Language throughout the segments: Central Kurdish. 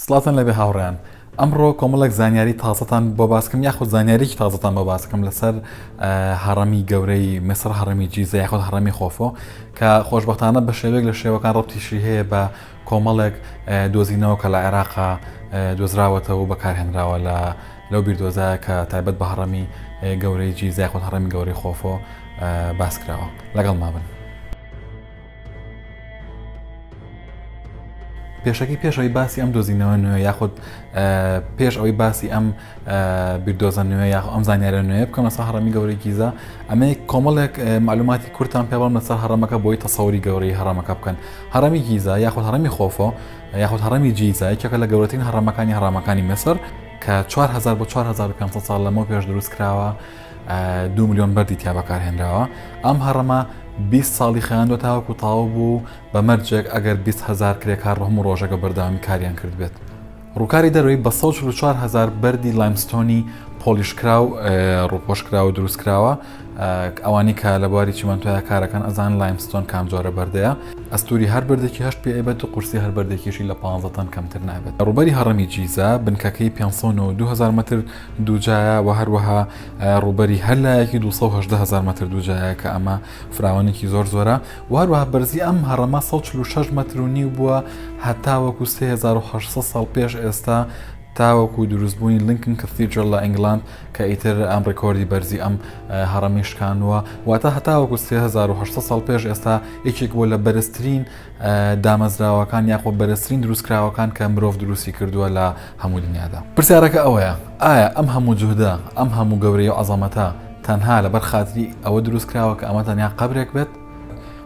سڵاتان لەبێ هاوڕیان ئەمڕۆ کۆمەڵێک زانیاری تازەتان بۆ باسکەم یاخود زانیاریی تازەتان بۆ باسکەم لەسەر هەڕەمی گەورەی مسر هەڕەمی جیزە یاخود هەڕەمی خۆفۆ کە خۆشببختانە بە شێوێک لە شێوەکان ڕەتیشی هەیە بە کۆمەڵێک دۆزینەوە کە لە عێراقا دۆزراوەتەوە و بەکارهێنراوە لە لەو بیردۆزە کە تایبەت بە هەڕەمی گەورەی جیزای خۆ هەڕەمی گەورەی خۆفۆ باسکراوە لەگەڵ مابن. پێشەکی پێش ئەوی باسی ئەم دۆزینەوە نوێ یاخود پێش ئەوەی باسی ئەم بیردۆزە نوێ یاخ ئەم زانیارە نوێ بکەم لەسەر هەڕەمی گەورەی گیزە ئەمە کۆمەڵێک معلوماتی کورتان پێڵم لەسەر هەڕەمەکە بۆی تەسەوری گەورەی هەڕەمەکە بکەن هەڕەمی گیزە یاخود هەڕەمی خۆفۆ یاخود هەڕەمی جیزە یەکێکە لە گەورەترین هەڕەمەکانی هەڕامەکانی مەسەر کە 4 بۆ 4500 ساڵ لەمەو پێش دروست کراوە دوو ملیۆن بەردی تیا بەکارهێنراوە ئەم هەڕەمە 20 ساڵی خیاندۆ تاوەکو تاو بوو بە مەرجێک ئەگەر 20 هزار کرێکار ڕۆم و ڕۆژەکە بەردەوامی کاریان کرد بێت ڕووکاری دەروی بە 4 هزار بەردی لایمستۆنی پۆلیشکرا و ڕوپۆشکرا و دروستکراوە ئەوانی کە لە بواری چیمەنتۆیا کارەکەن ئەزان لایمستۆن کام جۆرە بەردەیە ئەستوری هەر بردێکی هەشت پێبەت و قورسی هەر بردێکیشی لە 15 تەن کەمتر نابێت ڕوبەری هەڕمی جیزە بنکەکەی 5 2000 متر دوجایە وە هەروەها ڕووبەری هەر لایەکی 218 هزار مەتر دوجایە کە ئەمە فراوانێکی زۆر زۆرە و هەروەها بەرزی ئەم هەڕەمە 146 مەتر و نیو بووە هەتاوەکو 3800 ساڵ پێش ئێستا تاوەکو دروستبوونی لینکن کەثیدرل لە ئەنگلاند کە ئیتر ئەم ڕێکۆردی بەرزی ئەم هەڕەمی شکانووە واتە هەتاوەکو 3800 ساڵ پێش ئێستا یەکێک بۆ لە بەرزترین دامەزراوەکان یاخۆ بەرزترین دروستکراوەکان کە مرۆڤ دروستی کردووە لە هەموو دنیادا پرسیارەکە ئەوەیە ئایا ئەم هەموو جوهدە ئەم هەموو گەورەی و عەزەمەتە تەنها لەبەر خاتری ئەوە دروستکراوە کە ئەمە تەنیا قەبرێک بێت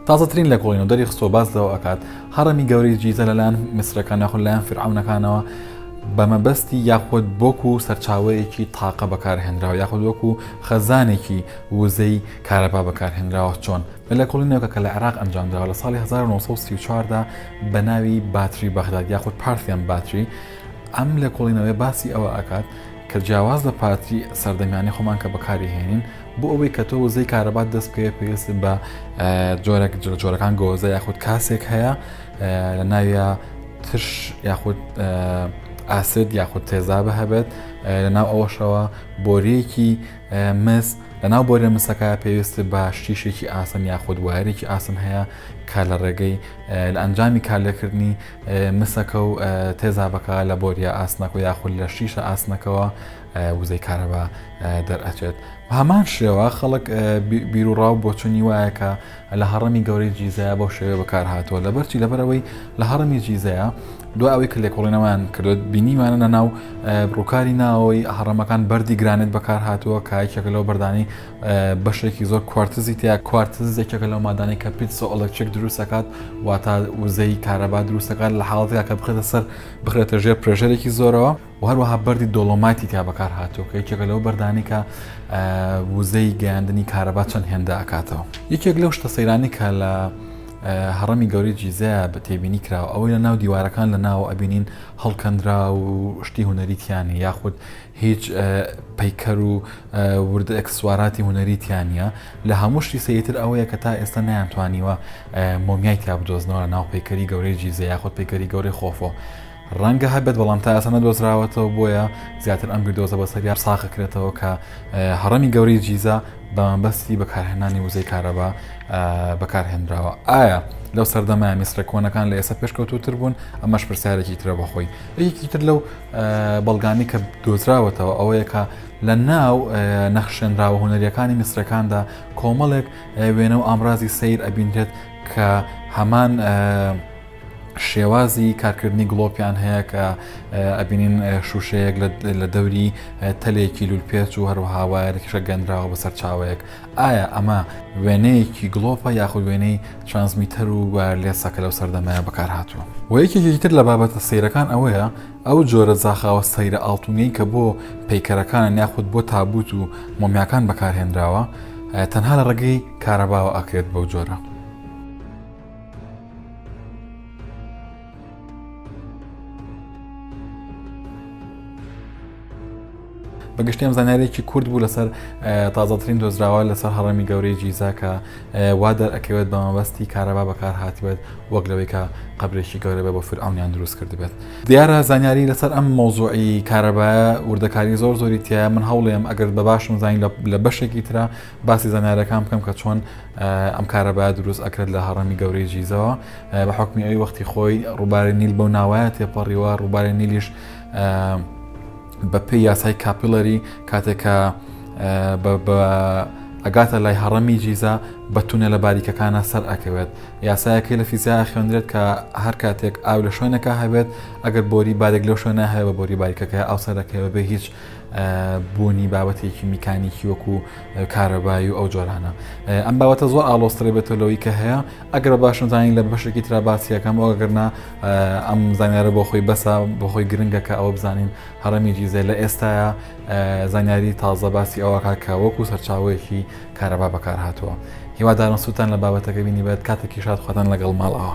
تازەترین لە کۆڵین و دەری خستۆ باز لەوە ئەکات هەڕەمی گەورەی جیزە لەلایەن میسرەکان یاخود لایەن فرعونەکانەوە بەمەبەستی یاخود بۆکو سەرچاوەیەکی تاقە بەکارهێنراوە یاخود وەکو خەزانێکی وزەی کارەبا بەکارهێنراوە چۆن لە لێکۆڵینەوەکە کە لە عێراق ئەنجامدراوە لە ساڵی 1934 دا بە ناوی باتری بەغداد یاخود پارثیان باتری ئەم لێکۆڵینەوەیە باسی ئەوە ئەکات کە جیاواز لە پاتری سەردەمیانەی خۆمان کە بەکاری هێنین بۆ ئەوەی کە تۆ وزەی کارەبات دەست بکەوێت پێویست بە جۆرێک جۆرەکان گۆزە یاخود کاسێک هەیە لە ناویە ترش یاخود ئاسد یاخود تێزابە هەبێت لە ناو ئەوەشەوە بۆریەکی مس، لەناو بۆرە مسەکە پێویستت بە شتیشێکی ئاسن یاخود وایەرێکی ئاسن هەیە کە لە ڕێگەی لە ئەنجامی کارلێکردنی مسەکە و تێزابەکە لە بۆریە ئاسنەکە و یاخود لە شتیشە ئاسنەکەەوە وزەی کارەبا دەرئەچێت هەمان شێوە خەڵک بیرروڕاو بۆچوونی وایە کە لە هەڕەمی گەورەی جیزەیە بەو شێوەیە بەکارهاتووە لەبەر چی لەبەر ئەوەی لە هەڕەمی جیزەیە دو ئەوەی کە لێکۆڵینەوەیان کردو بینیمانە لە ناو ڕووکاری ناوەوەی هەڕەمەکان بەردی گرانێت بەکارهاتووە کایکێک لەو بەردانی بەشێکی زۆر کوارتزی تیا کوارتزێکێکە لەو مادانەی کە پیتسۆ ئەڵکچێک دروستەکات واتە وزەی کارەبا دروستەکان لە حاڵەتەکە بخێتە سەر بخرێتە ژێر پرێژەرێکی زۆرەوە و هەروەها بەردی دۆڵۆمایتی تیا بەکار هاتووە کە یەکێکە لەو بەردانی کە وزەی گەیاندنی کارەبا چەند هێندە ئەکاتەوە یەکێک لەو شتە سەیرانی کە لە هەڕەمی گەوری جیزە بە تێبینی کراوە ئەوەی لە ناو دیوارەکان لە ناو ئەبینین هەڵکەندرا و شتی هوەریتیانی یاخود هیچ پەیکەر و وردە ئەکسسوواراتی هوەریتیانە لە هەموو شتی سەیتر ئەوەیە کە تا ئێستا نیانتوانیوە مۆمیای تا بدۆزنەوە لە ناو پەیکەری گەورەی جیزە یاخود پەیکەری گەورەی خۆفۆ ڕەنگە هەبێت بەڵام تا ئێستا نەدۆزراوەتەوە بۆیە زیاتر ئەم بیردۆزە بەسەر یار ساغەکرێتەوە کە هەڕەمی گەورەی جیزە بەمەبەستی بەکارهێنانی وزەی کارەبا بەکارهێنراوە ئایا لەو سەردەمای میسرە کۆنەکان لە ئێستا پێشکەوتوتر بوون ئەمەش پرسیارێکی ترە بەخۆی یەکی تر لەو بەڵگانی کە دۆزراوەتەوە ئەوەیە کە لە ناو نەخشێنراوە هوەریەکانی میسرەکاندا کۆمەڵێک وێنە و ئامرازی سیر ئەبینرێت کە هەمان شێوازی کارکردنی گڵۆپیان هەیە کە ئەبینین شوشەیەک لە دەوری تەلێکی لولپێچ و هەروەها وایەرێکیشە گەندراوە بەسەر چاوەیەک ئایا ئەمە وێنەیەکی گڵۆپە یاخود وێنەی ترانسمیتەر و وایەرلێسەکە لەو سەردەمەیە بەکارهاتووە و یەکێکی تر لە بابەتە سیرەکان ئەوەیە ئەو جۆرە زاخاوە سەیرە ئاڵتونەی کە بۆ پەیکەرەکان یاخود بۆ تابوت و مۆمیاکان بەکارهێنراوە تەنها لە ڕێگەی کارەباوە ئاکرێت بەو جۆرە بەگشتیم زانارێکی کورد بوو لەسەر تازەترین دۆزراوە لەسەر هەڕەمی گەورەی جیزاکە وا دەرەکەوێت بە مەبەستی کارەبا بەکار هاتبێت وەک لەوەی کە قبلێکی گەورە بە بە فرعونیان دروست کردبێت دیارە زانیاری لەسەر ئەم مۆزوعی کارەبایە وردەکاری زۆر زۆری تیا من هەوڵێم ئەگەر بە باشم زانین لە بەشێکی تررا باسی زانیارەکان بکەم کە چۆن ئەم کارە باە دروست ئەکرێت لە هەڕەمی گەورەی جیزەوە بە حکمی ئەوی وەختی خۆی ڕووبارە نیل بەو ناوایە تێپەڕیوە ڕووبارە نیلیش بە پێی یاسای کاپیلەری کاتێکە ئەگاتە لای هەڕەمی جیزە بە تونە لە باریکەکانە سەر ئەکەوێت یاسایەکەی لە فیزیا خوێندرێت کە هەر کاتێک ئاو لە شوێنەکە هەبێت ئەگەر بۆری بارێک لەو شوێنە هەیە بە بۆری باریکەکە ئەو سەرەکەەوە بێ هیچ بوونی بابەتێکی میکانیکی وەکو کارەبایی و ئەو جۆرانە ئەم باوەتە زۆر ئالۆستری بێتە لەوەی کە هەیە ئەگەر باشم زانین لە بەشێکی تررا باسیەکەم ئەوگەرنا ئەم زانیارە بۆ خۆی بەسە بۆ خۆی گرنگە کە ئەوە بزانین هەڕەمی جیزە لە ئێستاە زانیاری تازە باسی ئەوەکە کە وەکو سەرچاوەیەکی کارەبا بەکار هاتووە هیوادارم سووتان لە بابەتەکە بینی بێت کاتێکی شاد خواتان لەگەڵ ماڵەوە.